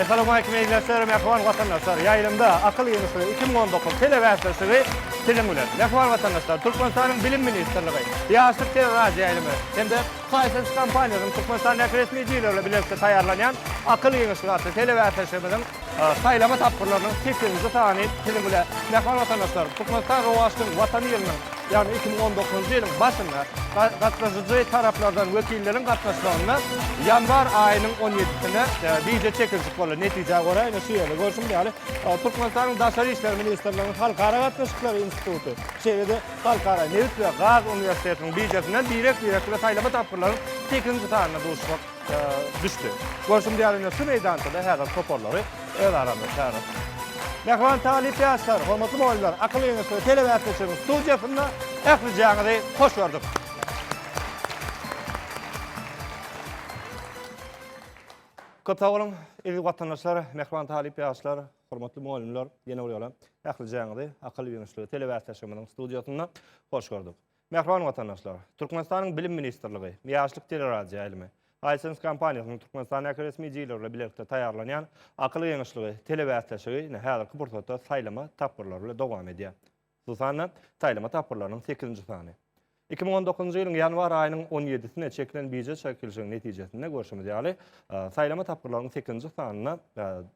Assalamualeýkum ildeşler, mähriban watandaşlar! Ýaýlymda akyl ýygnaşygy iki müň on dokuz telebäsleşigi siziň bilen. Mähriban watandaşlar, Türkmenistanyň Bilim ministrligi, Ýaşlyk teleradioýaýlymy hem-de Pfizer kompaniýasynyň Türkmenistandäki resmi dilerle bilelikde taýýarlanýan Akyl giňişligi atly telebäsleşigimiziň saýlama tapgyrlarynyň sekizinji sany siziň bilen, mähman watandaşlarym, Türkmenistan rowaçlygyň Watany ýylynyň, ýagny iki müň on dokuzynjy ýylyň başynda gatnaşyjy taraplardan wekilleriň gatnaşmagynda ýanwar aýynyň on ýedisinde wideo çekiljik boldy. Netijä görä, ine şu ýerde görşümiz ýaly, Türkmenistanyň Daşary işler ministrliginiň Halkara gatnaşyklary instituty, şeýle-de Halkara nebit we gaz uniwersitetiniň biržasyndan birek-birek we saýlama tapgyrlaryň sekizinji sanyna duşmak düşdi. Görşümiz ýaly, ine şu meýdançada häzir toparlary öz aranda çagyryp. Mähriban talyp ýaşlar, hormatly mugallymlar, Akyl geňeşleri telebäsleşiginiň studiýasynda ählijaňyzy hoş gördük. Köp sag boluň, eziz watandaşlar, mähriban talyp ýaşlar! Hormatly mugallymlar, ýene bir ýola ählijäňizi akyl ýöneşligi telebäsleşigimiziň studiýasynda hoş gördük. Mähriban watandaşlar, Türkmenistanyň Bilim ministrligi, Ýaşlyk teleradioýaýlymy, iSense kompaniýasynyň Türkmenistandaky resmi jileri bilen bilelikde taýýarlanýan Akyl geňeşligi telebäsleşigi ine häzirki pursatda saýlama tapgyrlary bilen dowam edýär. Bu sanda saýlama tapgyrlarynyň sekizinji sany. Iki müň on dokuzynjy ýylyň ýanwar aýynyň on ýedisine çekilen bije çekilişigiň netijesinde görşümiz ýaly, saýlama tapgyrlarynyň sekizinji sanynda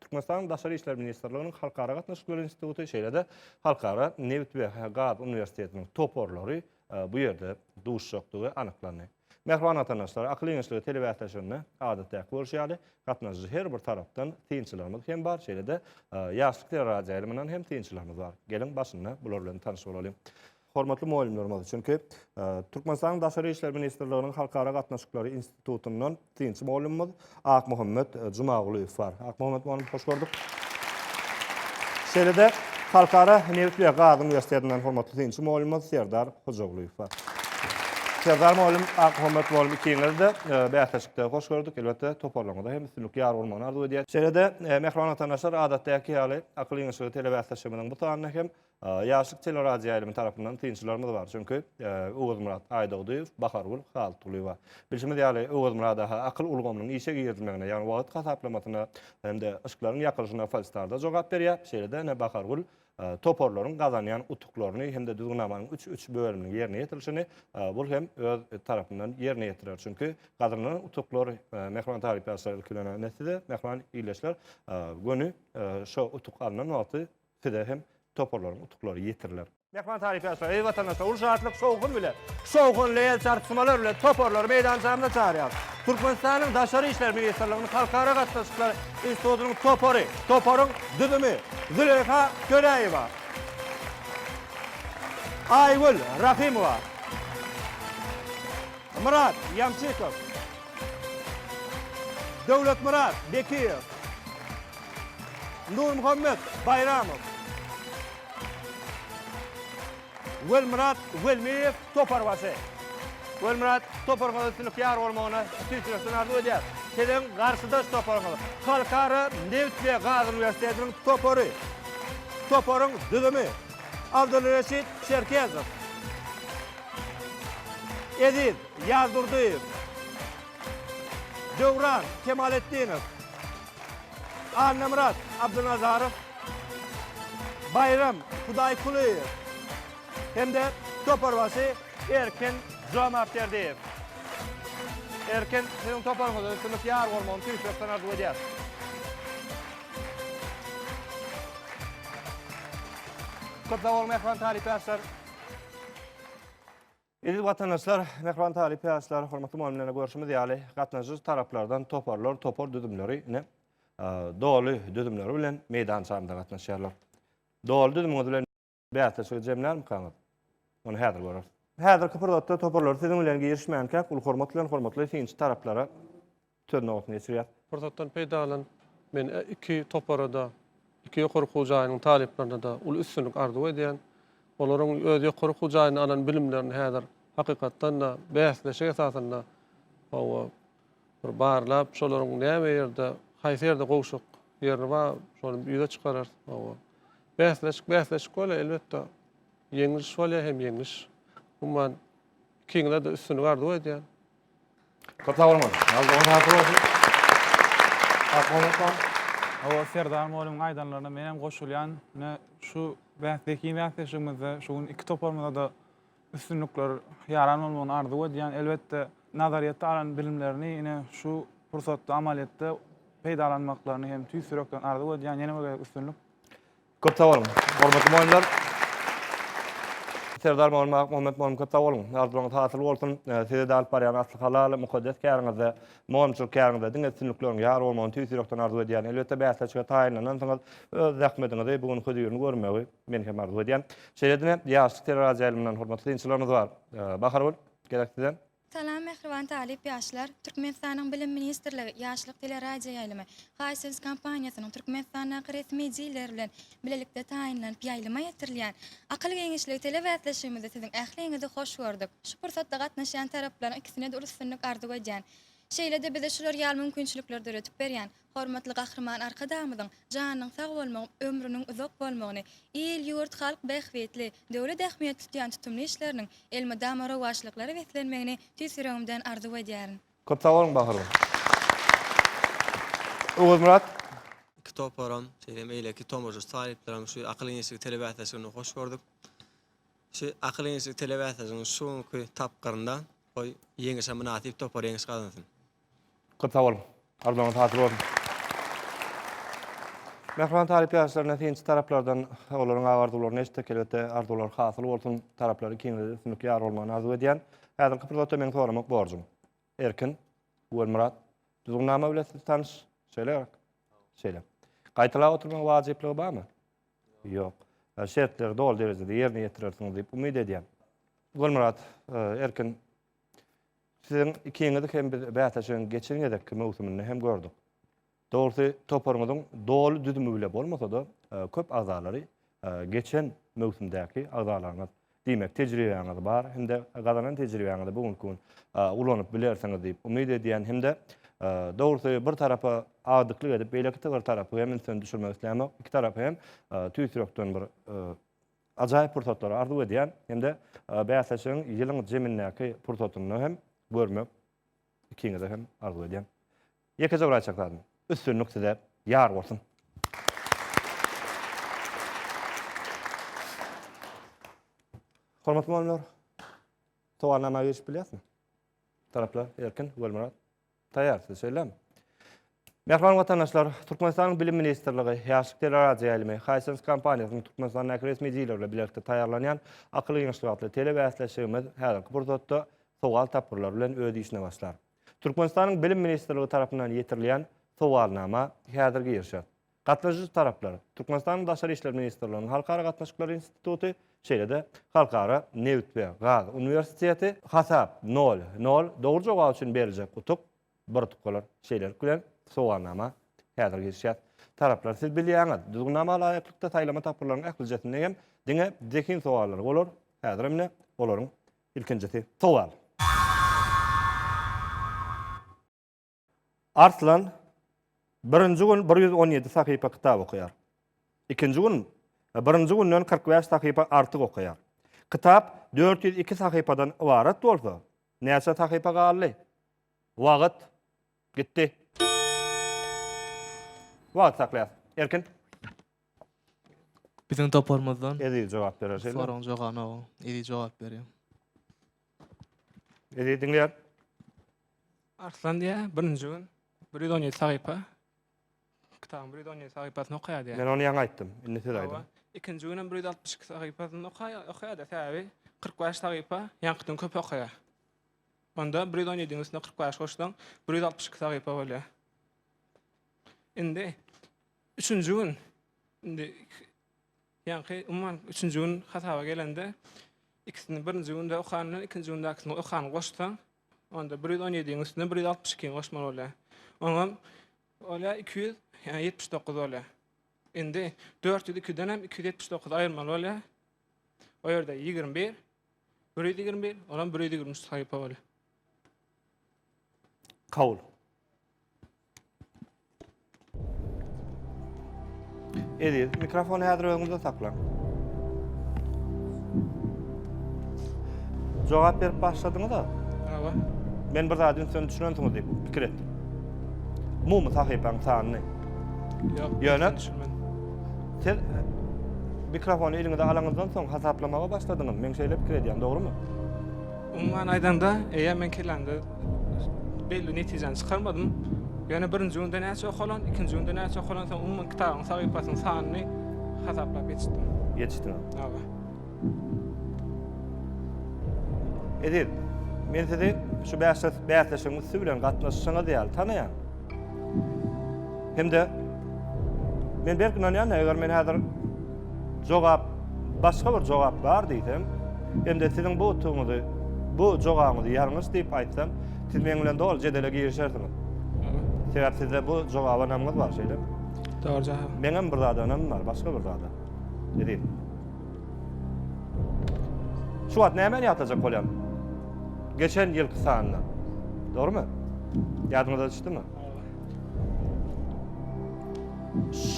Türkmenistanyň Daşary işler ministrliginiň Halkara gatnaşyklary instituty, şeýle-de Halkara nebit we gaz uniwersitetiniň toparlary bu ýerde duşjakdygy anyklandy. Mähriban watandaşlar, akyl geňeşligi telebäsleşigine adatdäki bolşy ýaly, gatnaşyjy her bir tarapdan synçylarymyz hem bar, şeýle-de Ýaşlyk teleradioýaýlymyndan hem synçylarymyz bar. Geliň, başynda bular bilen tanyş bolalyň. Hormatly mugallymlarymyz, çünki Türkmenistanyň Daşary işler ministrliginiň Halkara gatnaşyklary institutyndan Synçy mugallymymyz Akmuhammet Jumagulyýew bar. Akmuhammet mugallym, hoş gördük. Şeýle-de Halkara nebit we gaz uniwersitetinden hormatly synçy mugallymymyz Serdar Hojagulyýew bar. Serdar mugallym, Akmuhammet mugallym ikiňizi-de e, bäsleşikde hoş gördük. Elbetde, toparlaryňyza hem üstünlik ýar bolmagyny arzuw edýäris. Şeýle-de, e, mähriban watandaşlar, adatdaky ýaly, akyl ýeňişligi telebäsleşigimiziň bu sanyny hem Ýaşlyk teleradioýaýlymy tarapyndan synçylarymyz bar, çünki Öwezmyrat Aýdogdyýew, Bahargül Halykgulyýewa. Bilşimiz ýaly, Öwezmyrat aga akyl ulgamynyň işe girizilmegine, ýagny wagt hasaplamasyna hem-de yşklaryň ýakylyşyna Falstar-da jogap berýär, şeýle-de ine Bahargül toparlaryň gazanýan utuklaryny hem-de düzgünnamanyň üç üç bölüminiň ýerine ýetirilişini bul hem öz tarapyndan ýerine ýetirer. Çünki gazanylan utuklar, mähriban talyp ýaşlar ilki bilen-ä ine size, mähriban ildeşler, göni şo utuk alnan wagty Size hem toparlaryň utuklary ýetiriler. Myhman tarypy ýazsa, eziz watandaşlar, uly şatlyk, şowhun bilen, şowhunly el çarpyşmalar bilen toparlary meýdançamyza çagyrýarys. Türkmenistanyň Daşary işler ministrliginiň Halkara gatnaşyklary institutynyň topary, toparyň düzümi, Züleýha Töräýewa, Aýgül Rahymowa, Myrat Ýamçykow, Döwletmyrat Bekiýew, Nurmuhammet Baýramow, Welmyrat Welmiýew toparbaşy. Welmyrat, toparyňyza üstünlik ýar bolmagyny tüýs ýürekden arzuw edýäris. Siziň garşydaş toparyňyz, Halkara nebit we gaz uniwersitetiniň topary. Toparyň düzümi, Abdulreşit Çerkezow, Eziz Ýazdurdyýew, Döwran Kemaletdinow, Annamyrat Abdynazarow, Baýram Hudaýkulyýew hem-de toparbaşy Erkin Jomartberdiýew. Erkin, siziň toparyňyza üstünlik ýar bolmagyny tüýs ýürekden arzuw edýäris. Köp sag boluň, mähriban talyplar, ýaşlar! Eziz watandaşlar, mähriban talyp ýaşlar, hormatly mugallymlar, görşümiz ýaly, gatnaşyjy taraplardan toparlar, topar düzümleri ine doly düzümleri bilen meýdançamyza gatnaşýarlar. Doly düzümiňiz bilen bäsleşigi jemlärmikaňyz? Ony häzir göreris. Häzirki pursatda toparlar siziň bilen girişmänkäk, uly hormat bilen hormatly synçy taraplara Söz nobatynda geçirýär. Pursatdan peýdalanyp, men iki topara-da, iki ýokary okuw jaýynyň talyplaryna-da uly üstünlik arzuw edýän. Olaryň öz ýokary okuw jaýynda alan bilimlerini häzir hakykatdan-da bäsleşik esasynda hawa, bir barlap, şolaryň näme ýerde, haýsy ýerde gowşak ýerini bar, şony ýüze çykararys. Hawa, bäsleşik, bäsleşik bolýar, elbetde, ýeňliş bolýar hem ýeňliş. Umuman, ikiňize-de üstünlik arzuw edýän. Köp sag boluň. Ýazgyňyz hasyl bolsun. Magtymguly. Hawa, Serdar mugallymyň aýdanlaryna men hem goşulýan. Ine, şu bäs zehin bäsleşigimizde şu gün iki toparymyza-da üstünlikler ýaran bolmagyny arzuw edýän. Elbetde, nazaryýetde alan bilimlerini ine, şu pursatda amalyýetde peýdalanmaklaryny hem tüýs ýürekden arzuw edýän. Ýene bir gezek üstünlik. Köp sag boluň, hormatly mugallymlar! Serdar Mamal Magtymguhammet mugallym köp sag boluň! Arzuwlaryňyz hasyl bolsun! Size-de alyp barýan asly halal, mukaddes käriňizde, mugallymçylyk käriňizde diňe üstünlikleriň ýar bolmagyny tüýs ýürekden arzuw edýän. Elbetde, bäsleşige taýynlanansyňyz, öz zähmediňizi, bu günki hözirini görmegi men hem arzuw edýän. Şeýle-de, ýaşlyk teleradioýaýlymyndan hormatly synçylarymyz bar. Bahargül, gezek sizden. Salam mähriban talyp ýaşlar! Türkmenistanyň Bilim ministrligi, Ýaşlyk teleradioýaýlymy, Hisense kompaniýasynyň Türkmenistandaky resmi diler bilen bilelikde taýynlanyp ýaýlyma ýetirilýän Akyl giňişligi telebäsleşigimizde siziň ähliňizi hoş gördük. Şu pursatda gatnaşýan taraplaryň ikisine-de uly üstünlik arzuw edýän. Şeýle-de bize şular ýaly mümkinçilikleri döredip berýän Hormatly Gahryman Arkadagymyzyň janynyň sag bolmagy, ömrüniň uzak bolmagyny, il-ýurt, halk bähbitli, döwlet ähmiýetli tutýan tutumly işleriniň elmydama rowaçlyklara beslenmegini tüýs ýüregimden arzuw edýärin. Köp sag boluň Bahyrgül. Oguzmyrat. Iki toparam, şeýle beýleki tomaşaçy talyplaram şu Akyl-ýeňişlik telebäsleşigini hoş gördük. Şu Akyl-ýeňişlik telebäsleşiginiň şu günki tapgyrynda goý, ýeňişe mynasyp topar ýeňiş gazansyn. Köp sag boluň. Arzuwlaryňyz hasyl bolsun. Mähriban talyp ýaşlaryna synçy taraplardan olaryň agarzuwlaryny eşitdik. Elbetde arzuwlary hasyl bolsun. Taraplary kiňligi üstünlik ýar bolmagyny arzuw edýän. Häzirki pursatda meň soramak borjum. Erkin, Guwelmyrat, düzgünnama bile siz tanyş, şeýle gerek? Şeýle. Gaýtalap oturmagyň wajyplygy barmy? Ýok. Şertleri doly derejede ýerine ýetirersiňiz diýip umyt edýän. Guwelmyrat, Erkin, Siziň ikiňizi hem biz bäsleşigiň geçen gezekki möwsüminde hem gördük. Dogrusy, toparyňyzyň doly düzümi bile bolmasa-da, e, köp agzalary e, geçen möwsümdäki agzalaryňyz. Diýmek, tejribäňiz bar hem-de gazanan tejribäňizi bu günki gün e, ulanyp bilersiňiz diýip umyt edýän hem-de dogrusy bir tarapa agdyklyk edip, beýleki bir tarapy hem ünsüni düşürmek islämok. Iki tarapy hem tüýs ýürekden bir ajaýyp pursatlary arzuw edýän hem-de bäsleşigiň ýylyň jemindäki pursatynda hem görmek ikiňize hem arzuw edýän. Ýekeje bir aýtjak zadym, üstünlik size ýar bolsun! Hormatly mugallymlar, sowalnama girişip bilýäsmi? Taraplar, Erkin, Ogulmyrat, Taýýar, size şeýlemi? Mähriban watandaşlar, Türkmenistanyň Bilim ministrligi, Ýaşlyk teleradioýaýlymy, Hisense kompaniýasynyň Türkmenistandaky resmi dileri bilen bilelikde taýýarlanýan Akyl giňişligi atly telebäsleşigimiz häzirki pursatda sowal-tapgyrlar bilen öz işine başlar. Türkmenistanyň Bilim ministrligi tarapyndan ýetirilýän sowalnama häzir girişer. Gatnaşyjy taraplar, Türkmenistanyň Daşary işler ministrliginiň Halkara gatnaşyklary instituty, şeýle-de Halkara nebit we gaz uniwersiteti, Hasap, nol, nol, dogry jogap üçin beriljek utuk, bir utkalar, şeýlelik bilen, sowalnama, häzir girişýär. Taraplar, siz bilýäňiz, düzgünnama laýyklykda saýlama tapgyrlarynyň ählijesinde hem diňe zehin sowallary bolar, häzir hem-de olaryň ilkinjisi. Sowal. Arslan birinji gün bir ýüz on ýedi sahypa kitap okaýar. Ikinji gün birinji günden kyrk bäş sahypa artyk okaýar. Kitap dört ýüz iki sahypadan ybarat bolsa, näçe sahypa galdy? Wagt gitdi. Wagt saklaýas. Erkin. Biziň toparymyzdan. Eziz jogap berer şeýle. Soragyň jogabyny o. Eziz jogap berýär. Ne diýdiň ýa? Arslan diýä, birinji gün 117 sahypa. Kitabyň 117 sahypasyny okaýar diýä. Men ony ýaňy aýtdym. Indi siz aýdyň. Ikinji gün hem 162 sahypasyny okaýar, okaýar da säbi 45 sahypa ýaňkydan köp okaýar. Onda 117-niň üstüne 45 goşsaň 162 sahypa bolýar. Indi üçünji gün indi Ýaňky, umuman, üçünji gün hasaba gelende, ikisini birinji günde okan bilen ikinji gündäkisini okanyny goşsaň, onda bir ýüz on ýediň üstüne bir ýüz altmyş ikini goşmaly bolýar. Oňam bolýar iki ýüz ýetmiş dokuz bolýar. Indi dört ýüz ikiden hem iki ýüz ýetmiş dokuzy aýyrmaly bolýar. O ýerde ýigrimi bir, bir ýüz ýigrimi bir, olam bir ýüz ýigrimi üç sahypa bolýar. Kabul. Eziz, mikrofony häzir özüňizde saklaň. Jogap berip başladyňyz-a? Hawa. Men bir zady ünsden düşünensiňiz diýip pikir etdim. Umumy sahypaň sanyny. Ýok, ýöne siz mikrofony eliňize alaňyzdan soň hasaplamaga başladyňyz. Men şeýle pikir edýän, dogrumy? Umuman aýdanda, eýe men kelamda Belli netijäni çykarmadym. Ýöne birinji günde näçe okalan, ikinji günde näçe okalan, soň umuman kitabyň sahypasynyň sanyny hasaplap geçdim. Geçdiň. Hawa. Eziz, men sizi şu bäsleşigiň üsti bilen gatnaşyşyňyz ýaly tanaýan. Hem-de men berk ynanýan, eger men häzir jogap, başga bir jogap bar diýsem, hem-de siziň bu utugyňyzy, bu jogabyňyzy ýalňyş diýip aýtsam, siz meň bilen doly jedele girişersiňiz. Sebäbi sizde bu jogaba ynamyňyz bar, şeýlemi? Dogry jogap. Meňem bir zada ynamym bar, başga bir zada. Eziz. Şu wagt nämeni ýatlajak bolýan? Geçen ýylky sanyny. Dogrumy? Ýadyňyza düşdümi?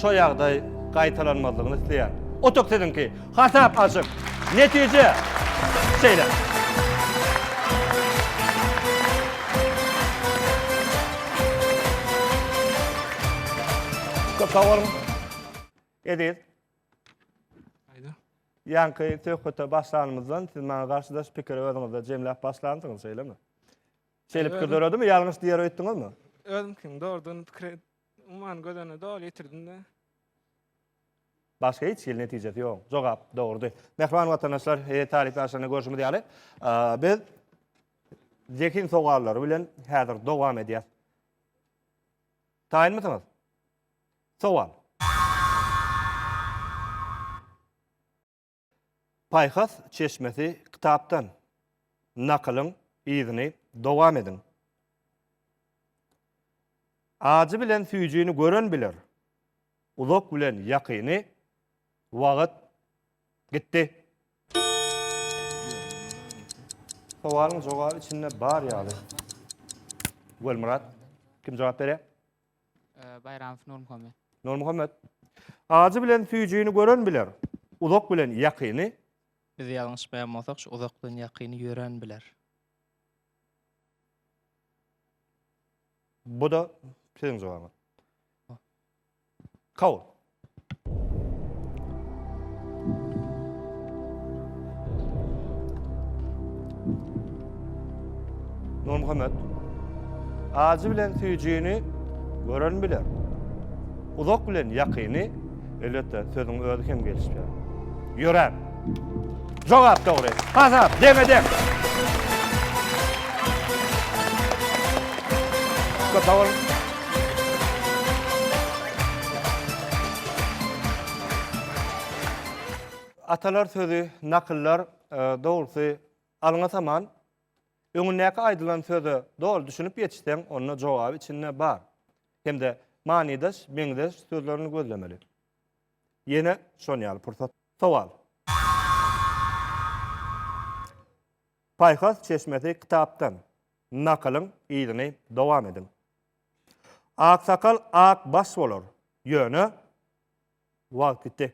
Şu ýagdaý gaýtalanmazlygyny isleýän. Otuk siziňki. Hasap açyk. Netije. Şeýle. Köp sag boluň. Eziz. Ýaňky söhbete başlanymyzdan siz maňa garşydaş pikiri özüňizde jemläp başlansyňyz, şeýlemi? Şeýlipki döredimi? Ýalňyş diýer öýtdüňizmi? Özümkiň dogrudygyny pikir et, umuman göz öňüne doly getirdim-de. Başga hiç hili netijesi ýok. Jogap dogrudy. Mähriban watandaşlar, e, talyp ýaşlarynda görşümiz ýaly, a, biz zehin sowallary bilen häzir dowam edýäs. Taýynmysyňyz? Sowal. Paýhas çeşmesi kitapdan nakylyň yzyny dowam ediň. Ajy bilen süýjini gören biler, uzak bilen ýakyny Wagyt gitdi. Sowalyň jogaby içinde bar ýaly. Welmyrat, kim jogap berýär? Baýramow Nurmuhammet. Nurmuhammet. Ajy bilen süýjini gören biler, uzak bilen ýakyny. Biz ýalňyşmaýan bolsak, şu uzak bilen ýakyny ýören biler. Bu-da siziň jogabyňyz. Kabul. Nurmuhammet, acı bilen süýjini gören biler. Uzak bilen ýakyny, elbetde, sözüň özi hem gelişýär. Ýöräp! Jogap dogry. Hasap deňe-deň. Köp sag boluň. Atalar sözi, nakyllar, dogrusy, alňa saman. Öňündäki aýdylan söze doly düşünip ýetişseň, onda jogaby içinde bar. Hem-de manydaş, meňzeş sözlerini gözlemeli. Ýene şon ýaly pursat. Sowal. Paýhas çeşmesi kitapdan nakylyň yzyny dowam ediň. Aksakal ak baş bolar, ýöne wagt gitdi.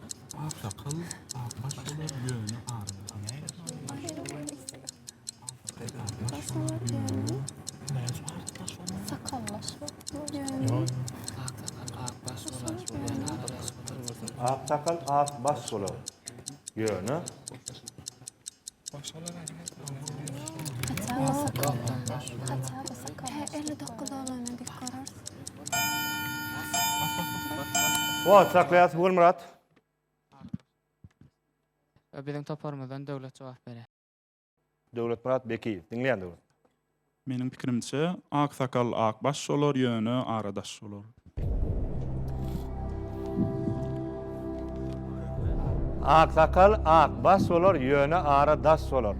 Ak sakal ak baş bolar ýöne. Wagt saklaýas Gulmyrat. Biziň toparymyzdan Döwlet jogap berer. Döwletmyrat Bekiýew. Diňleýän Döwlet. Meniň pikirimçe ak sakal ak baş şolar ýöne ara daş şolar. Ak sakal ak baş şolar ýöne ara daş şolar.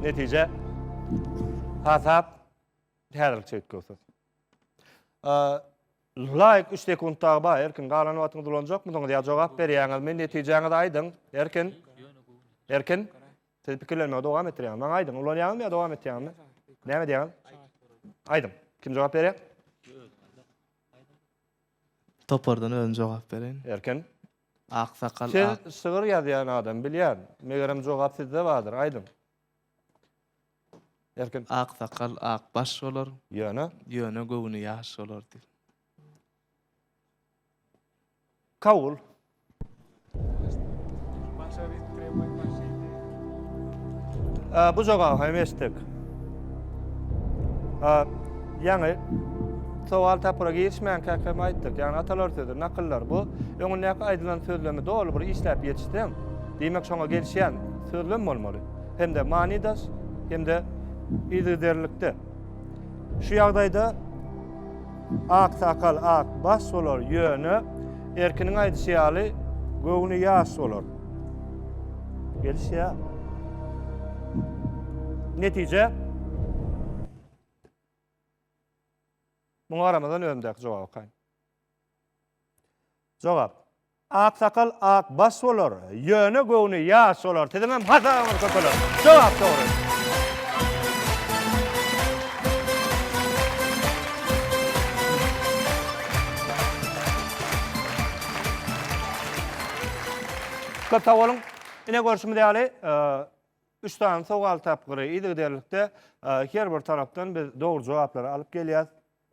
Netije hasap häzirlikçe üýtgewsiz. Laýk üç sekunt dagy bar Erkin galan wagtyňyzy ulanjakmydyňyz ýa jogap berýäňizmi netijäňizi aýdyň Erkin Erkin siz pikirlenmegi dowam etdirýäňiz maňa aýdyň ulanýaňyzmy ýa dowam etýäňizmi näme edýäňiz aýdyň kim jogap berýär Topardan özüm jogap bereýin Erkin Aksakal siz şygyr ýazýan adam bilýän megerem jogap sizde bardyr aýdyň Erkin. Ak sakal ak baş bolar. Ýöne. Ýöne göwni ýaş bolar diýip. Kabul. Bu jogaby hem eşitdik. Ýaňy sowal tapgyra girişmän käkem aýtdyk. Ýagny atalar sözi, nakyllar bu öňündäki aýdylan sözlemi doly bir işläp ýetişseň, diýmek şoňa gelişýän sözlem bolmaly. hem-de manydaş hem-de yzygiderlikde. Şu ýagdaýda ak sakal, ak baş bolar, ýöne Erkiniň aýdyşy ýaly göwni ýaş bolar. Gelişýär. Netije Muňa garamazdan özümdäki jogap okaýyn. Jogap. Aksakal ak baş bolar, ýöne göwni ýaş bolar. Siziňem hasabyňyz köpeler. Jogap dogry. Köp sag boluň. Ine görşümiz ýaly, üç sany sowal tapgyry yzygiderlikde her bir tarapdan biz dogry jogaplary alyp gelýäs.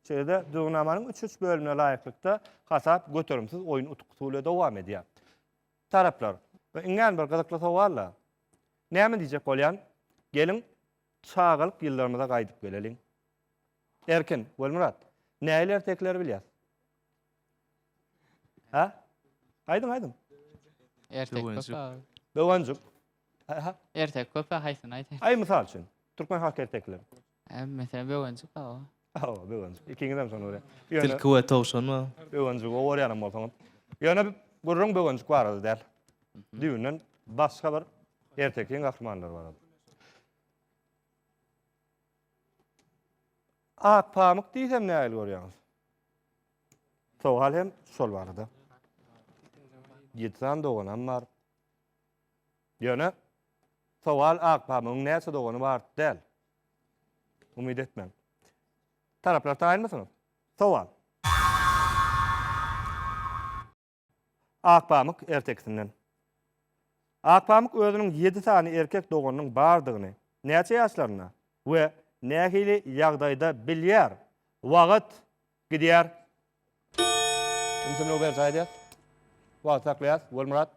Şeýle-de, düzgünnamanyň üç-üç bölümine laýyklykda, hasap göterimsiz oýun utkusy bilen dowam edýär. Taraplar, we iňňän bir gyzykly sowal-la. Näme diýjek bolýan? Geliň, çagalyk ýyllarymyza gaýdyp geleliň. Erkin, Welmyrat, nähili ertekileri bilýäs? Hä? Aýdyň, aýdyň. Erteki köp Döwenjik. aga. Döwenjik. Hä? Erteki köp aga, haýsyny aýdaýyn? Aý, mysal üçin, türkmen halk ertekileri. Hem mesela böwenjik hawa. Hawa, böwenjik. Ikiňizem şony görýän. Ýöne Tilki we towşan bar. böwenjigi gowy görýänem bolsaňyz. Ýöne gürrüň böwenjik barada däl. Düýnden başga bir ertekiň gahrymanlary barada. Ak pamyk diýsem nähili görýäňiz? Sowal hem şol barada. Ýedi sany doganam bar. Ýöne sowal ak pamygyň näçe dogany bar däl. Umyt etmän. Taraplar taýynmysyňyz? Sowal. Akpamyk ertekisinden. Akpamyk özüniň ýedi sany erkek doganynyň bardygyny näçe ýaşlarynda we nähili ýagdaýda bilýär? Wagt gidýär. Ümsümligi berjaý edýäs. Wagty saklaýas. Welmyrat.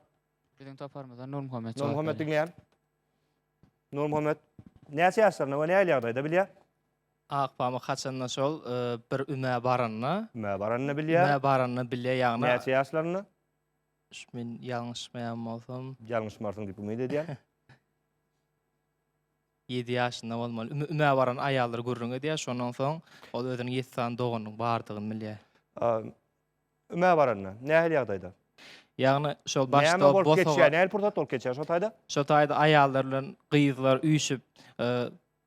Biziň toparymyzdan Nurmuhammet jogap berýär. Nurmuhammet diňleýän. Nurmuhammet näçe ýaşlarynda we nähili ýagdaýda bilýär? Akpamyk haçanda şol bir ümä baranda. Ümä baranda bilýär. Ümä baranda bilýär ýagny. Näçe ýaşlarynda? Şu men ýalňyşmaýan bolsam. Ýalňyşmarsyň diýip umyt edýän. 7 ýaşynda bolmaly. Ümä baran aýallar gürrüň edýär. Şondan soň ol özüniň 7 sany doganynyň bardygyny bilýär. Ümä baranda, nähili ýagdaýda? Ýagny şol başda Näme bolup bosaga geçýär? Nähili pursat bolup geçýär şo taýda? Şo taýda aýallar bilen gyzlar üýşüp, e,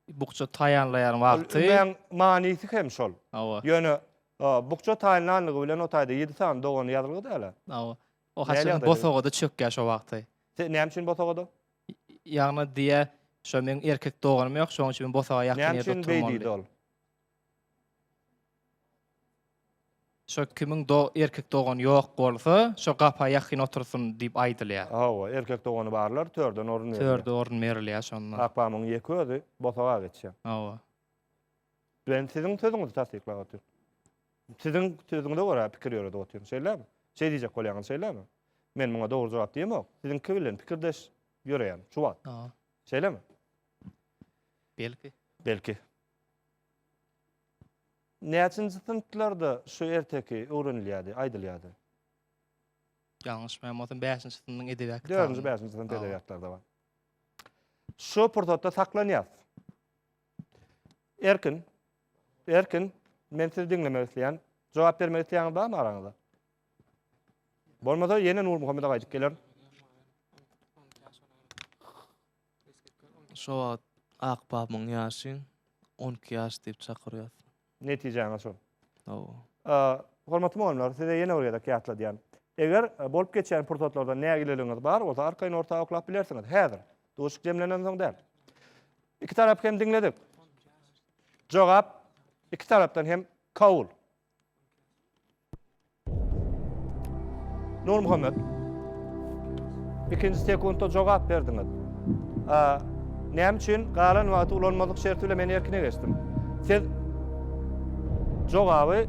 bukja taýýarlaýan Ol wagty. ümäň manysy hem şol. Hawa, Ýöne e, bukja taýynlanlygy bilen o taýda ýedi sany dogany ýazylgy dälä. hawa. O Nähili haçan ýagdaýda? bosagada çökýär şo wagty. Se, näme üçin bosagada? Ýagny diýýär, şo meniň erkek doganym ýok, şonuň üçin men bosaga ýakyn Näme ýerde üçin beý oturmalydym. diýdi ol? Şo kimiň do erkek dogany ýok bolsa, şo gapa ýakyn otursyn diýip aýdylýar. Hawa, erkek dogany barlar, törden orun berilýär. Törde orun berilýär şonda. Akpamyň ýeke özi bosaga geçýär. Hawa. Men siziň sözüňizi tassyklap otyryn. Siziň sözüňize görä pikir ýöredip otyryn, şeýlemi? Şeý diýjek bolýaňyz, şeýlemi? Men muňa dogry jogap diýemok. Siziňki bilen pikirdeş ýöreýän şu wagt. Hawa. Şeýlemi? Belki. Belki. Näçinji synplarda şu erteki öwrenilýärdi, aýdylýardy? Ýalňyşmaýan bolsam bäşinji synpyň edebiýat kitaby. Dördünji, bäşinji synp edebiýatlarda bar. Şu pursatda saklanýas. Erkin. Erkin. Men sizi diňlemek isleýän. Jogap bermek isleýäňiz barmy araňyzda? Bolmasa ýene Nurmuhammede gaýdyp geler. Şo wagt ak babamyň ýaşy on iki ýaş diýip çakyrýas. Netijäňiz şol. Hawa. Hormatly mugallymlar, size ýene bir gezek ýatladýan. Eger bolup geçýän pursatlarda nägileligiňiz bar bolsa, arkaýyn orta oklap bilersiňiz. Häzir. Duşuk jemlenensoň däl. Iki tarapy hem diňledik. Jogap iki tarapdan hem kabul. Nurmuhammet. İkinci sekundda cevap berdiňiz. Näme üçin galan wagty ulanmazlyk şerti bilen men erkine geçdim? Siz jogaby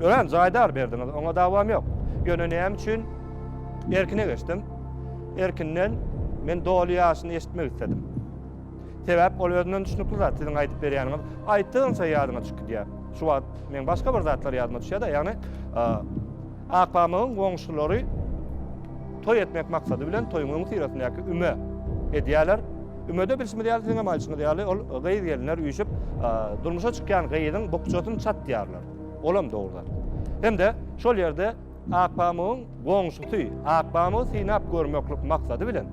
ölen jaydar berdiňiz. Oňa davam yok. Ýöne näme üçin erkine geçdim? Erkinden men doly ýaşyny eşitmek istedim. Sebäp ol özünden düşnükli zat, siziň aýdyp berýäniňiz aýtdygyňça ýadyňa düşüp gidýär. Şu wagt meň başga bir zatlar ýadyma düşýär-de, ýagny Akpamygyň goňşulary toý etmek maksady bilen toýuň öňüsyrasyndaky üme edýärler. Ümede bilşimiz ýaly, siziňem aýdyşyňyz ýaly, ol gyz-gelinler üýşüp, durmuşa çykýan gyzyň bukjasyny çatýarlar. Olam dogry zat. Hem-de şol ýerde Akpamygyň goňşusy Akpamygy synap görmeklik maksady bilen,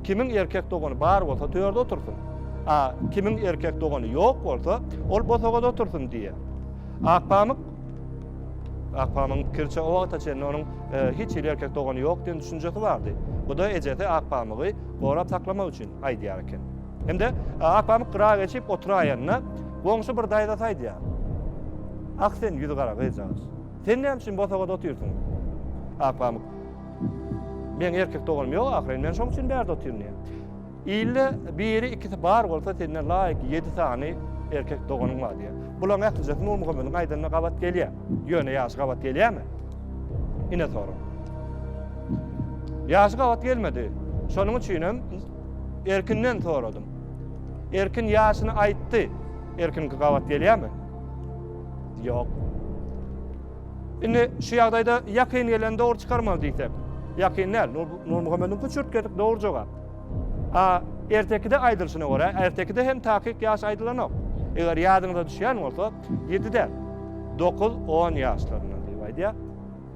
Kimiň erkek dogany bar bolsa, törde otursyn, a kimiň erkek dogany ýok bolsa, ol bosagada otursyn diýýär. Akpamyk Akpamygyň pikiriçe, o wagta çenli onuň e, hiç hili erkek dogany ýok diýen düşünjesi bardy. Bu da ejesi Akpamygy gorap saklamak üçin aýdýar eken. Hem-de e, Akpamyk gyra geçip oturaýanda, goňşy bir daýzasy aýdýar. Ah sen ýüzi gara gyzjagaz. Sen näme üçin bosagada otyrsyň? Akpamyk. Meň erkek doganym ýok ahyryn, men şoň üçin bärde otyryn diýýär. Ilde biri, ikisi bar bolsa, senden laýyk ýedi sany erkek doganyň bar diýýär. Bularyň ählijesi Nurmuhammediň aýdanyna gabat gelýär. Ýöne ýaşy gabat gelýärmi? Ine sorag. Ýaşy gabat gelmedi. Şonuň üçin hem Erkinden soradym. Erkin ýaşyny aýtdy. Erkinki gabat gelýärmi? Ýok. Indi şu ýagdaýda ýakyn geleni dogry çykarmaly diýsek. Ýakyn däl. Nurmuhammediň küçürt gelip dogry jogap. A ertekide aýdylyşyna görä, ertekide hem takyk ýaş aýdylanok. Eger ýadyňyza düşýän bolsa, 7-den 9-10 ýaşlarynda diýip aýdýar.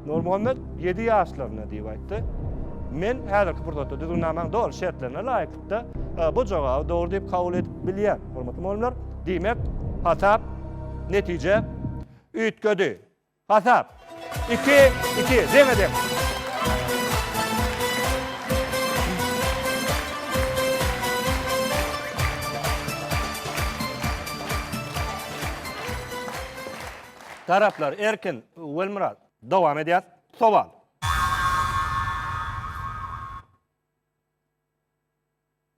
Nurmuhammet ýedi ýaşlarynda diýip aýtdy. Men häzirki pursatda düzgünnamaň doly şertlerine laýyklykda e, bu jogaby dogry diýip kabul edip bilýän, hormatly mugallymlar. Diýmek, hasap, netije üýtgedi. Hasap 2 2 deňe deň. Taraplar, Erkin, Welmyrat. Dowam edýäs. Sowal.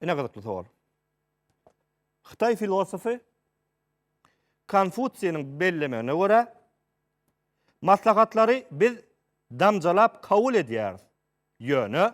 Ine gyzykly sowal. Hytaý filosofy Konfutsiýniň bellemegine görä, maslahatlary biz damjalap kabul edýäris, ýöne,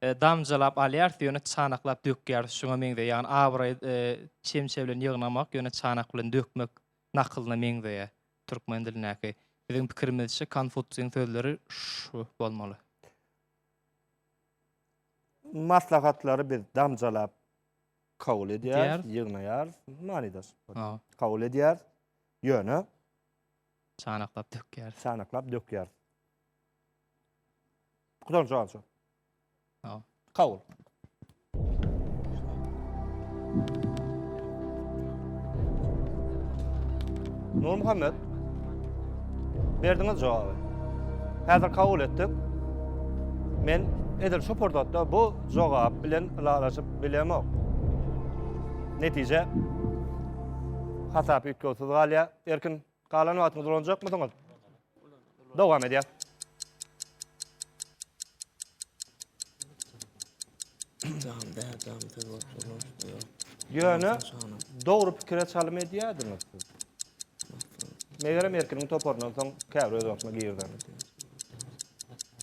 damjalap alýarys, ýöne çanaklap dökýäris, şuňa meňzeýär. Abraý çemçe bilen ýygnamak, ýöne çanak bilen dökmek nakylyna meňzeýär türkmen dilindäki. Biziň pikirimizçe Konfutsiýiň sözleri şu bolmaly. Maslahatlary biz damjalap kabul edýäris, ýygnaýarys, manydaş. Kabul edýäris, ýöne çanaklap dökýäris. Çanaklap dökýäris. Kudan şu alça. Ha. Kabul. Nur Muhammed. Berdiňiz jogabı. Häzir kabul etdik. Men edil şu pursatda bu jogap bilen ylalaşyp bilemok. Netije hasap üýtgewsiz galýar. Erkin Galan wagtyňyzy ulanjakmysyňyz? Dowam edýär. Ýöne dogry pikire çalym edýärdiňiz siz. Megerem Erkiniň toparyndan soň käbir öz wagtyna girdi.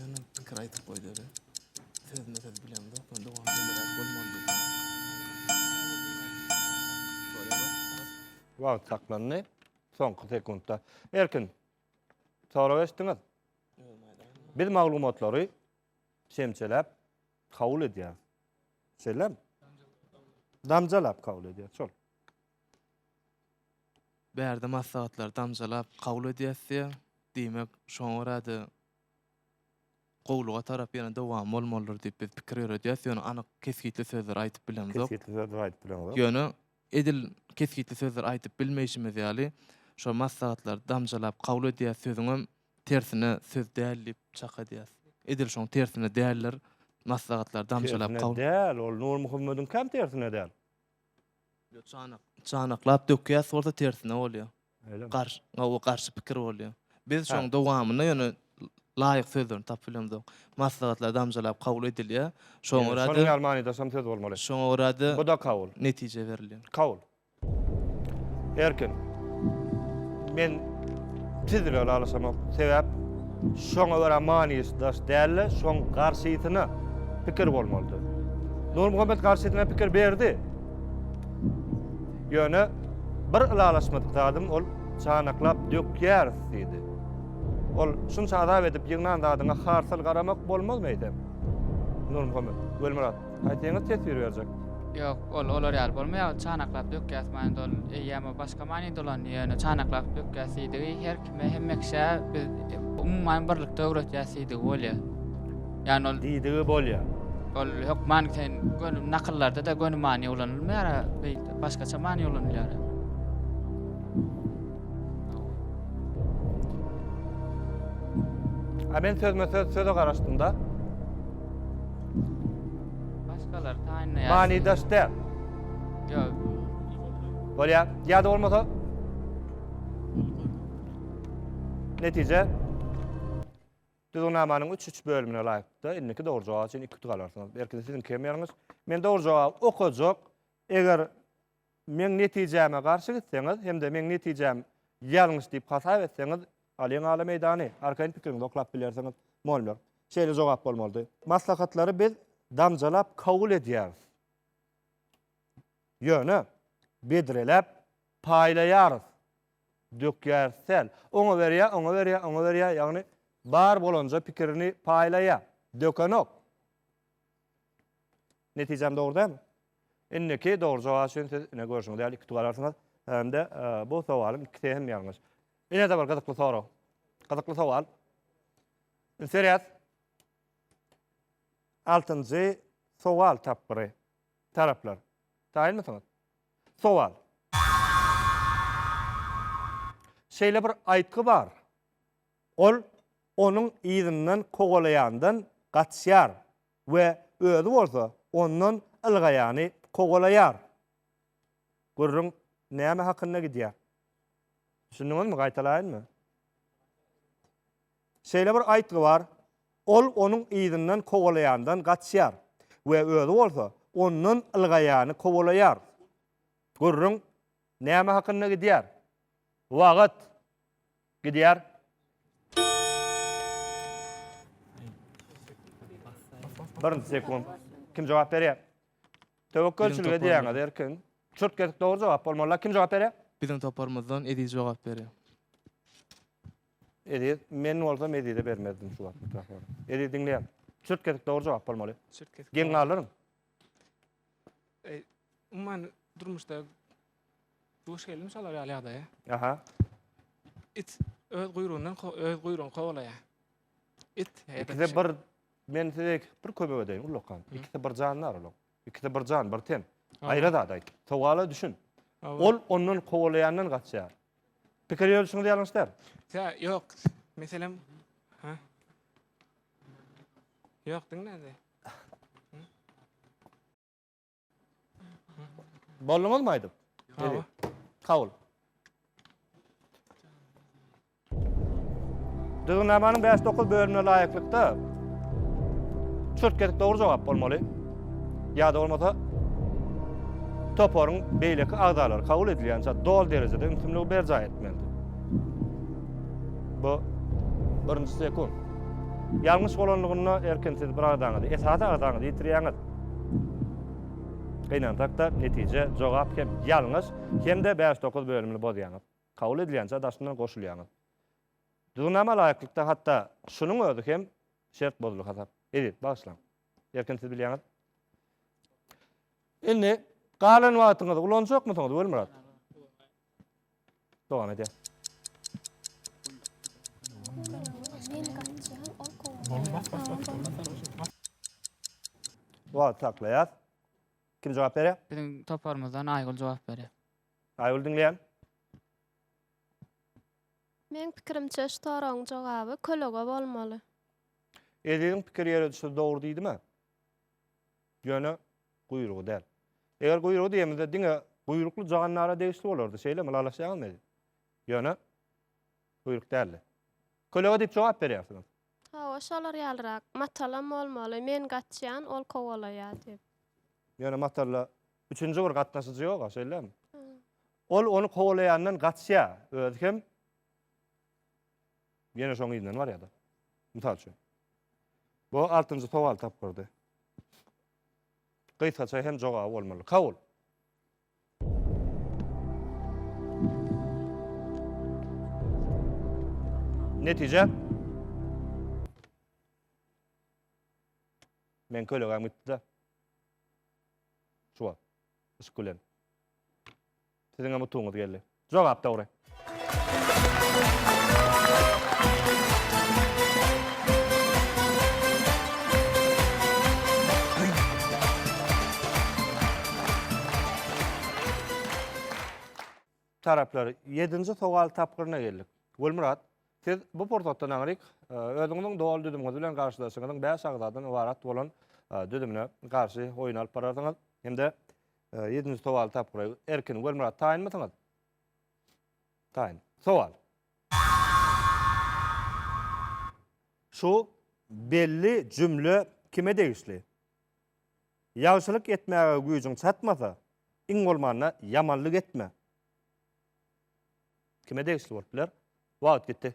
Ýöne pikir aýdyp goýdy öle. Sözüne söz bilen dok, men dogam bilen bolmaly. Wagt saklandy. Soňky sekuntda. Erkin. Sorag eşdiňiz? Biz maglumatlary şemçeläp kabul edýär. Şeýlem? Damjalap kabul edýär, şol. Bärde maslahatlar damjalap kabul edýäsdiýä. Diýmek, şoňa görä-de gowulyga tarap ýene dowam bolmalydyr diýip biz pikir ýöredýäs, ýöne anyk kesgitli sözler aýdyp bilemzok. Kesgitli sözler aýdyp bilemzok. Ýöne edil kesgitli sözler aýdyp bilmeýşimiz ýaly, şo maslahatlary damjalap kabul edýäs sözüňem tersine söz däl diýip çak edýäs. Edil şoň tersine däldir maslahatlary damjalap kabul. Tersine däl, ol Nurmuhammediňkäm tersine däl. Ýok çanak çanaklap dökýäs bolsa tersine bolýa. Öýle mi? Garş o garşy pikir bolýa. Biz şoň dowamyny ýöne laýyk sözlerini tapyp bilemzok. Maslahatlar damjalap kabul edilýä. Şoňa görä-de Şonuň ýaly manydaşam söz bolmaly. Şoňa görä-de Bu-da kabul. netije berilýä. Kabul. Erkin. Men Tizräk alyşamak sebäp şoňa görä manysy daş dälde şoň garşysyna pikir bolmalydy. Nurmuhammet garşysyna pikir berdi. Ýöne bir ylalaşmadyk zadym ol çanaklap dökýäris diýdi. Ol şunça azap edip ýygnan zadyňa harsal garamak bolmazmy eýsem? Nurmuhammet, Welmyrat. Aýtsaňyz teswir berjek. Ýok, ol olar ýaly bolmaýar, ol çanaklap dökýäs many dol, eýýäm o başga many dolandy, ýöne çanaklap dökýäs diýdigi her kime, hemme kişä biz umuman birlikde öwretýäs diýdigi bolýar. Ýagny ol Diýdigi bolýar. ol hökman sen göni nakyllarda-da göni many ulanylmaýar-a, beýik başgaça many ulanylýar. A men sözme-söz söze garaşdym-da. Başkalar taýynlaýar. Mani daş däl. Ýok. Bolýar. Ýa-da bolmasa Netije Düzgünnamanyň 3-3 bölümine laýyklykda indiki dogry jogap üçin 2 utuk alarsyňyz. Erkin siziň kim ýeriňiz? Men dogry jogap okajak. Eger Meň netijäme garşy gitseňiz hem-de meň netijäm ýalňyş diýip hasap etseňiz, alyň ala meýdany, arkaýyn pikiriňizi oklap bilersiňiz. Molmer, Şeýle jogap bolmalydy. Maslahatlary biz damjalap kabul edýäris. Ýöne, bedreläp paýlaýarys, dökýäris däl. Oňa berýär, oňa berýär, oňa berýär, ýagny bar bolanja pikirini paýlaýar. Dökenok. Netijäm dogry dämi? Indiki dogry jogap üçin siz ine görşüňiz ýaly iki tug alarsyňyz. Hem-de bu sowalyň ikisi hem ýalňyş. Ine-de bir gyzykly sorag. Gyzykly sowal. Üns berýäs. Altynjy sowal tapgyry. Taraplar. Taýynmysyňyz? Sowal. Şeýle bir aýtgy bar. Ol onuň yzyndan kowalaýandan gaçýar we özi bolsa ondan ylgaýany kowalaýar. Gürrüň näme hakynda gidýär? Düşündiňizmi, gaýtalaýynmy? Şeýle bir aýtgy bar, Ol onuň yzyndan kowalaýandan gaçýar we özi bolsa ondan ylgaýany kowalaýar. Gürrüň näme hakynda gidýär? Wagt. Gidýär. Birinji sekund. Kim jogap berýär? Töwekgelçilik edýäňiz erkin. Çürt gezip dogry jogap bolmaly. Kim jogap berýär? Biziň toparymyzdan Eziz jogap berýär. Eziz, men bolsam Ezize bermezdim şu wagt mikrofony. Eziz diňleýär. Çürt gezip dogry jogap bolmaly. Çürt gezip. Geň galyryň. Umuman durmuşda Duş geldim şolar ýaly ýagdaýa. Aha. It öz guýrugyndan ko- öz guýrugyny kowalaýar. It ýa-da İkisi pişik. bir men size iki- bir kömek edeýin ullakan. Hı. İkisi bir jandar olar. İkisi bir jan, bir ten. Aha. Aýra zat aýt. Sowala düşün. Ol Ol ondan kowalaýandan gaçýar. Pikir ýörüşiňiz ýalňyş däl. Tä ýok. Meselem ha. Ýok diňlende. Bolduňyz mı aydyp? Hawa. Kabul. Düzgünnamanyň 5-9 bölümine laýyklykda çürt kesik dogry jogap bolmaly. Ýa-da bolmasa toparyň beýleki agzalary kabul edilýänçä dol derejede ümsümligi berjaý etmelidir. Bu birinji sekund. Ýalňyş bolanlygynda erkin siz bir agzaňyzy, esasy agzaňyzy ýitirýäňiz. Gynansak-da, netije, jogap hem ýalňyş, hem-de bäş-dokuz bölümini bozýaňyz. Kabul edilýänçä daşyndan goşulýaňyz. Düzgünnama laýyklykda hatda şunuň özi hem şert bozuldy hasap. Eziz, bagyşlaň. Erkin siz bilýäňiz. Indi galan wagtyňyzy ulanjakmysyňyz Welmyrat? Dowam edýär. Wagt saklaýas. Kim jogap berýär? Biziň toparymyzdan Aýgül jogap berýär. Aýgül diňleýän. Men pikirimçe şu soragyň jogaby kölege bolmaly. Eziziň pikir ýöredişi dogry diýdimi? Ýöne guýrugy däl. Eger guýrugy diýemizde diňe guýrukly jagandara degişli bolardy, şeýlemi, lalaşýaňyzmy edi? Ýöne guýruk däldi. Kölege diýip jogap berýärsiňiz. Hawa, şolar ýalyrak. Matalam bolmaly, men gaçýan, ol kowalaýar diýip. Ýöne matalla üçünji bir gatnaşyjy ýog-a, şeýlemi? Ol ony kowalaýandan gaçýar, özi hem Ýene şoň yzyndan barýar-da. Mysal üçin. Bu altynjy sowal tapgyrdy. Gysgaça hem jogaby bolmaly. Kabul. Netije? Men kölegäm gitdi-de. Şu wagt. Yşk bilen. Siziňem utugyňyz geldi. Jogap dogry. Taraplar, ýedinji sowal tapgyryna geldik. Gulmyrat, siz bu pursatdan aňryk özüňiziň doly düzümiňiz bilen garşydaşyňyzyň bäş agzadan ybarat bolan düzümine garşy oýun alyp bararsyňyz hem-de Ýedinji sowaly tapyp guraý. Erkin, Welmyrat taýynmysyňyz? Taýyn. Sowal. Şu belli jümle kime degişli? Ýagşylyk etmäge güýjüň çatmasa, iň bolmanda ýamanlyk etme. Kime degişli bolup biler? Wagt gitdi.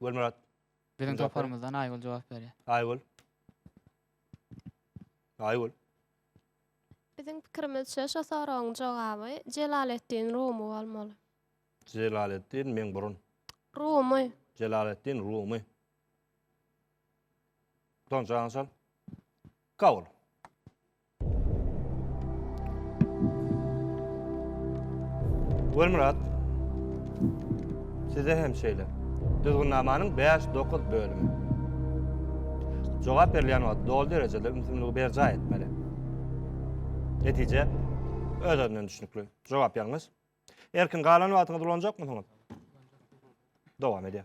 Gülmürat. Biziň toparymyzdan Aýgül jogap berýär. Aýgül. Aýgül. Biziň pikirimizçe şu soragyň jogaby Jelaleddin Rumy bolmaly. Jelaleddin meň burun. Rumy. Jelaleddin Rumy. Don Johnson. Kabul. Welmyrat, size hem şeýle. Düzgünnamanyň bäş-dokuz bölümi. Jogap berilýän wagt doly derejede ümsümligi berjaý etmeli. Netije öz-özünden düşnükli. Jogap ýalňyş. Erkin, galan wagtyňyzy ulanjakmysyňyz? Dowam edýär.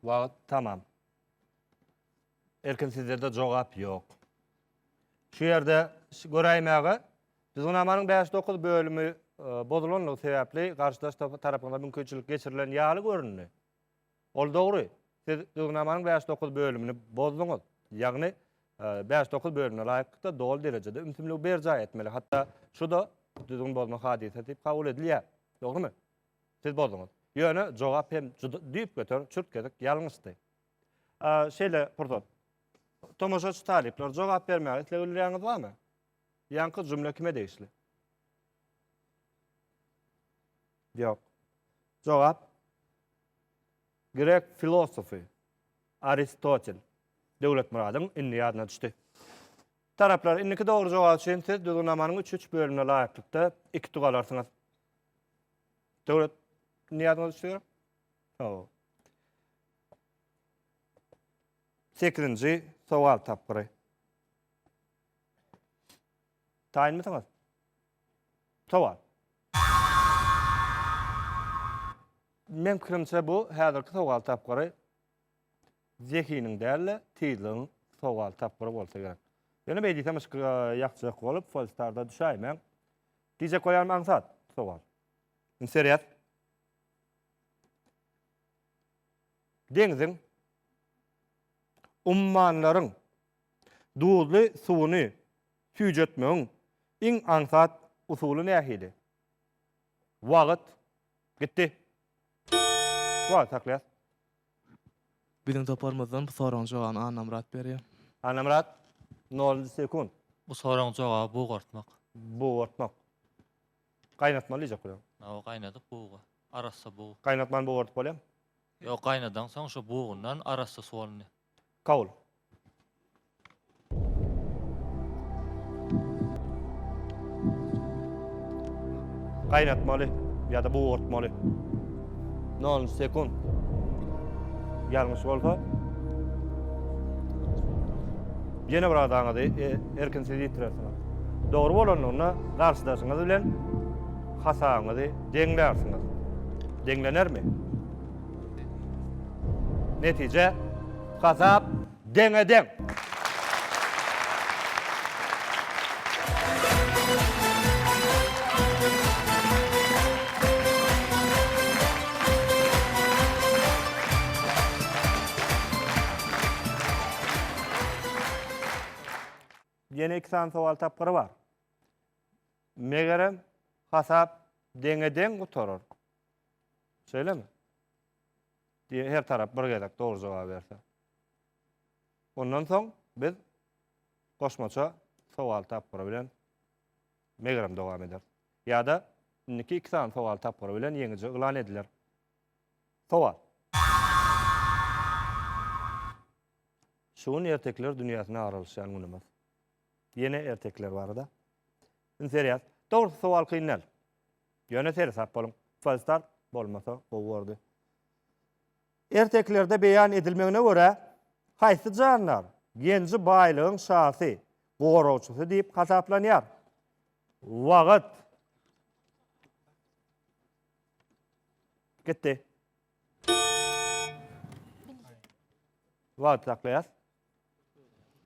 Wagt tamam. Erkin sizlerde jogap ýok. Şu ýerde göräýmäge Düzgünamanyň bäş dokuz bölümi e, bozulanlygy sebäpli garşydaş tarapyňda mümkinçilik geçirilen ýaly göründi. Ol dogry. Siz Düzgünamanyň bäş dokuz bölümini bozduňyz. Ýagny e, bäş dokuz bölümine laýyklykda doly derejede ümsümligi berjaý etmeli. Hatda şu da düzgün bozma hadysasy diýip kabul edilýär. Dogrymy? Siz bozduňyz. Ýöne jogap hem juda düýpgöter çürt-kesik ýalňyşdy. A, şeýle pursat. Tomaşaçy talyplar, jogap bermäge isleg bildirýäňiz barmy? Ýaňky jümle kime degişli? Ýok. Jogap Grek filosofy Aristotel. Döwletmyradyň indi ýadyna düşdi. Taraplar, indiki dogry jogap üçin siz düzgünamanyň üç-üç bölümine laýyklykda iki tug alarsyňyz. Döwlet ne ýadyňyza düşýär? Hawa. 8-nji sowal tapgyry. Taýynmysyňyz? Sowal. Men pikirimçe bu häzirki sowal tapgyry zehiniň däl-de, tizligiň sowal tapgyry bolsa gerek. Ýöne beýdisem yşk ýakjak bolup, Polstarda düşäýmäň. Gije koyan aňsat sowal. Indi serýaz. Deňziň ummanlaryň duzly suwuny süýjetmegiň iň aňsat usuly nähili? Wagt gitdi. Wagt saklaýas. Biziň toparymyzdan bu soragyň jogabyny Annamyrat berýär. Annamyrat, nol sekund. Bu soragyň jogaby bugartmak. Bugartmak. Gaýnatmaly diýjek bolar. Hawa, gaýnadyp buga. Arassa bug. Gaýnatman bugardyp bolýarmy? Ýok, gaýnadansoň şo bugundan arassa suwalny. Kabul. Gaýnatmaly ýa-da bugartmaly. 0 sekund. Ýalňyş bolsa ýene bir adaňyzy e, erkinsiz ýitirersiňiz. Dogry bolanlygynda garşydaşyňyz bilen hasabyňyzy deňlärsiňiz. Deňlenermi? Netije Gazap deňe deň. Ýene iki sany sowal tapgyry bar. Megerem, hasap deňe deň gutarar. Şeýlemi? Diýe her tarap bir gezek dogry jogaby berse. Ondan soň biz goşmaça sowal tapgyry bilen megerem dowam eder. Ýa-da indiki iki sany sowal tapgyry bilen ýeňiji yglan ediler. Sowal. Şu gün ertekiler dünýäsine aralyşýan günümiz. Ýene ertekiler barada. Üns berýäs. Dogrusy sowal kyn däl. Ýöne seresap boluň. Falstart bolmasa gowy bordy. Ertekilerde beýan edilmegine görä, haýsy jandar genji baýlygyň şasy, goragçysy diýip hasaplanýar? Wagyt. Gitdi. Wagyt saklaýas.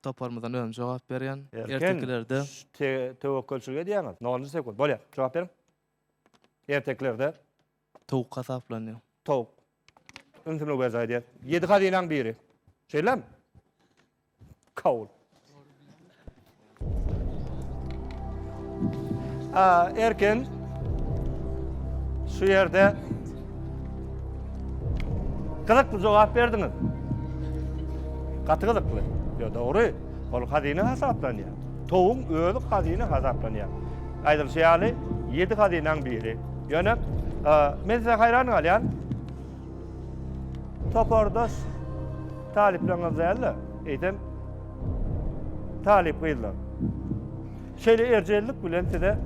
Toparymyzdan özüm jogap berýän. Ertekilerde töwekgelçilik edýäňiz. Nol sekund. Bolýar. Jogap beriň. Ertekilerde. Towuk hasaplanýar. Towuk. Ümsümlik berjaý edýär. Ýedi hazynaň biri. Şeýlemi? Kabul. Erkin şu ýerde gyzykly jogap berdiňiz. Gaty gyzykly. Ýo dogry. Ol hazyna hasaplanýar. Towuň özi hazyna hasaplanýar. Aýdylyşy ýaly, ýedi hazynaň biri. Ýöne men size haýran galýan. Topardaş talyplaryňyz däl-de, eýsem, talyp gyzlar. Şeýle erjellik bilen size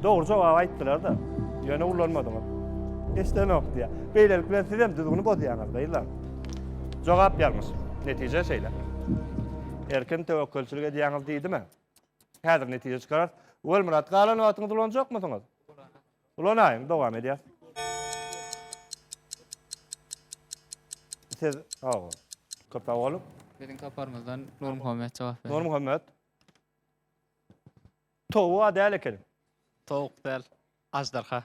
dogry jogaby aýtdylar-da, ýöne ullanmadyňyz. Eşidenok diýýär. Beýlelik bilen siz hem düzgüni bozýaňyz, gyzlar. Jogap ýalňyş. Netije şeýle. Erkin töwekgelçilik edýäňiz diýdimä. Häzir netije çykararys. Welmyrat, galan wagtyňyzy ulanjakmysyňyz? Ulanaýyň, dowam edýäs. Siz sag boluň. Köp sag boluň. Biziň toparymyzdan Nurmuhammet jogap berdi. Nurmuhammet. Towuga däl ekeniň. Towuk däl, aždarha.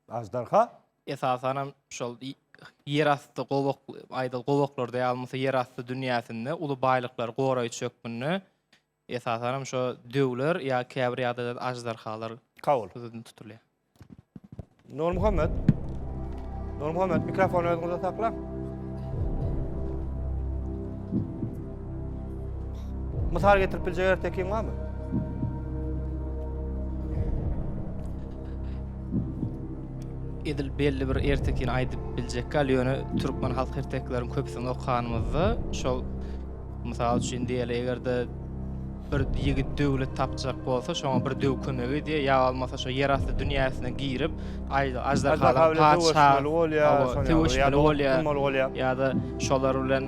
Aždarha? Esasan hem şol y- ýer asty gowak, aýdyl gowaklarda ýa bolmasa ýer asty dünýäsinde uly baýlyklary goraýjy hökmünde Esasanam şo döwler ýa käbir ýagdaýda aždarhalar Kabul. göz öňünde tutulýar. Nurmuhammet. Nurmuhammet mikrofony özüňizde saklaň. Mysal getirip biljek ertekiň barmy? Edil belli bir ertekini aýdyp biljek gal, ýöne türkmen halk ertekileriň köpüsini okanymyzda şol Mysal üçin diýeli, eger-de bir ýigit döwlet tapjak bolsa, şoňa bir döw kömek edýär, ýa bolmasa şu ýerasty dünýäsine girip, aždarhalar patyşaly bolýar, söweşmeli bolýar. Ýa-da şolar bilen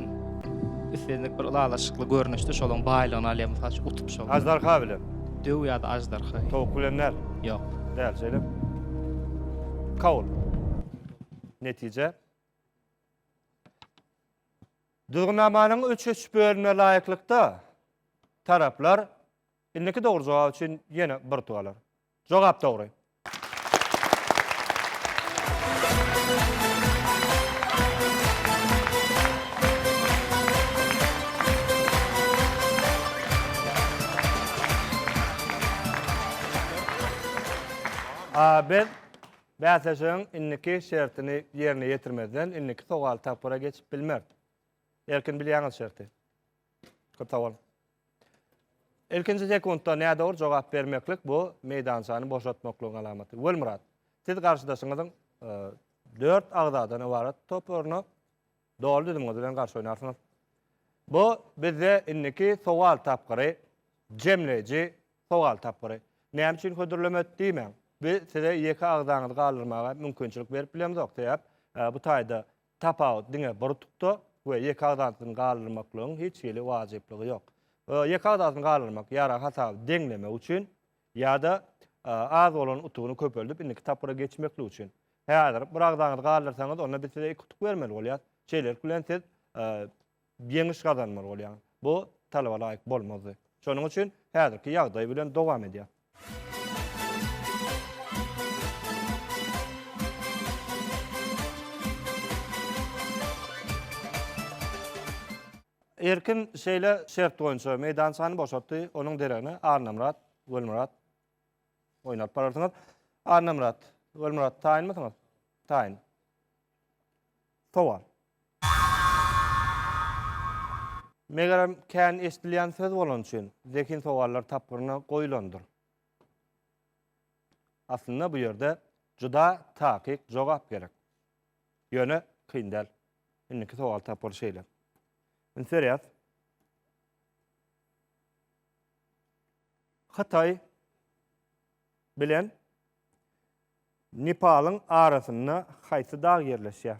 islendik bir ylalaşykly görnüşde şolaryň baýlygyny alýar, mysal üçin utup şol. Aždarha bilen. Döw ýa-da aždarha. Towuk bilen däl. Ýok. Däl, şeýle. Kabul. Netije. Düzgünnamanyň üç-üç bölümine laýyklykda, taraplar indiki dogry jogap üçin ýene bir utup alar. Jogap dogry. A. Biz Bäsleşigiň indiki şertini ýerine ýetirmezden indiki sowal tapgyra geçip bilmert. Erkin bilýäňiz şerti. Köp sag boluň. Ilkinji sekuntda nädogry jogap bermeklik bu meýdançany boşatmaklygyň alamaty. Welmyrat, siz garşydaşyňyzyň dört agzadan ybarat toparyna Doly düzümiňiz bilen garşy oýnarsyňyz. Bu bizde indiki sowal tapgyry, jemleýji sowal tapgyry. Näme üçin hödürlemedik diýmäň. Biz size ýeke agzaňyzy galdyrmaga mümkinçilik berip bilemzok. Sebäp bu taýda tapawut diňe bir utukda we ýeke agzasyny galdyrmaklygyň hiç hili wajyplygy ýok. Ýeke agzasyny galdyrmak ýarag hasaby deňlemek üçin Ýa-da az bolan utugyny köpeldip, indiki tapgyra geçmeklik üçin. Häzir bir agzaňyzy galdyrsaňyz, onda biz size iki utuk bermeli bolýarys. Şeýlelik bilen siz ýeňiş gazanmaly bolýaňyz. Bu talaba laýyk bolmazdy. Şonuň üçin häzirki ýagdaý bilen dowam edýäris. Erkin şeýle şert boýunça meýdançany boşatdy, onuň deregine Annamyrat Welimurat oýun alyp bararsyňyz. Annamyrat Welimurat taýynmysyňyz? Taýyn. Sowal. Megerem, kän eşidilýän söz bolany üçin, zehin sowallar tapgyryna goýlandyr. Aslynda bu ýerde juda takyk jogap gerek. Ýöne kyn däl. Indiki sowal tapgyry şeýle. Üns berýäs. Hytaý bilen Nepalyň arasynda haýsy dag ýerleşýär?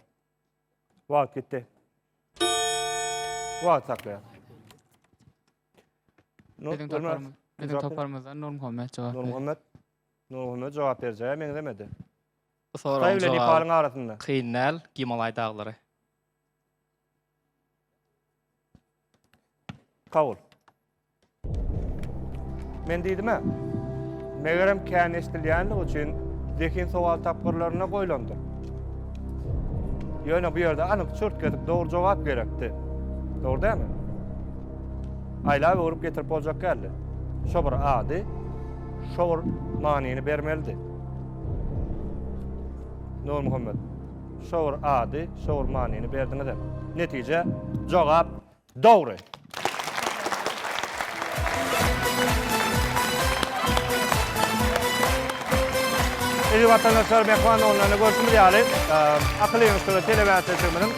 Wagt gitdi. Wagt saklaýar. Biziň toparymyz. Biziň toparymyzdan Nurmuhammet jogap berdi. Nurmuhammet. Nurmuhammet jogap berjäge meňzemedi. Bu soragyň jogaby kyn däl, Gimalaý daglary. Kabul. Men diýdim-ä, megerem kän eşidilýänligi üçin zehin sowal tapgyrlarynda goýlandyr. Ýöne bu ýerde anyk çürt gezip dogry jogap gerekdi. Dogry dälmi? Aýlap öwrüp getirip boljak däldi. Şo bir ady, şo bir manyny bermelidi. Nurmuhammet. Şowur ady, şowur manyny berdiňiz hem. Netije, jogap dogry. Eziz watandaşlar, Mehman oglundan görşümiz ýaly, akyl ýygyşlygy telebäsleşigimiziň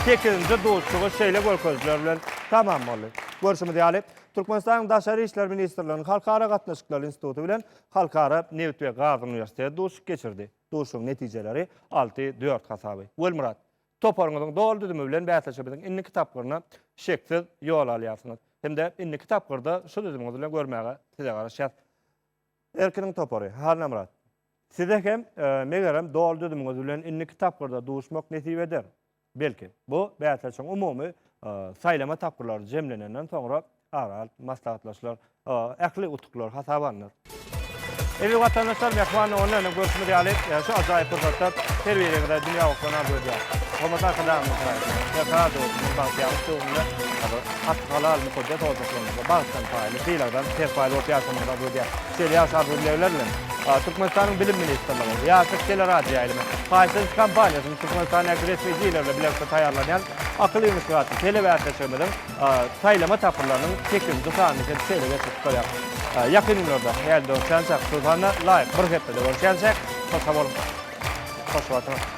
sekizinji duşuşygy şeýle görkezijiler bilen tamam boldy. Görşümiz ýaly, Türkmenistanyň Daşary işler ministrliginiň Halkara gatnaşyklary instituty bilen Halkara nebit we gaz uniwersiteti duşuşyk geçirdi. Duşuşygyň netijeleri alty, dört hasaby. Welmyrat, toparyňyzyň doly düzümi bilen bäsleşigimiziň indiki tapgyryna şeksiz ýol alýarsyňyz. Hem-de indiki tapgyrda şu düzümiňiz bilen görmäge size garaşýas. Erkiniň topary, Hallamyrat, size hem, megerem, doly düzümiňiz bilen indiki tapgyrda duşmak nesip eder. Belki, bu bäsleşigiň umumy saýlama tapgyrlary jemlenenden soňra ara alyp maslahatlaşylar, ähli utuklar hasaba alnar. Eziz watandaşlar, Mehman nowunda ýene görşümiz ýaly, şu ajaýyp pursatda her biriňize dünýä gowşan arzuw edýäris. Hormatly Arkadagymyzyň şaýatlygyna, Berkarar döwletimiziň bagtyýarlyk döwründe hak, halal, mukaddes ozalklarymyzda bagtdan paýly, sylagdan serpaýly bolup ýaşamagyny arzuw edýäris. Şeýle ýagşy arzuw-dilegler bilen, Türkmenistanyň Bilim ministrligi, Ýaşlyk teleradioýaýlymy, Paýtens kampaniýasy, Türkmenistandäki resmi dilerle bilelikde taýýarlanýan Akyl Inwestigasion telebäsleşigimiziň saýlama tapgyrlarynyň sekizinji sanyny hem şeýle geçirip gutarýarys. Ýakyn günlerde häli görüşýänçäk, şol sanda laýyk bir hepdede görüşýänçäk, şol sag boluň. Hoş bolsuňyz.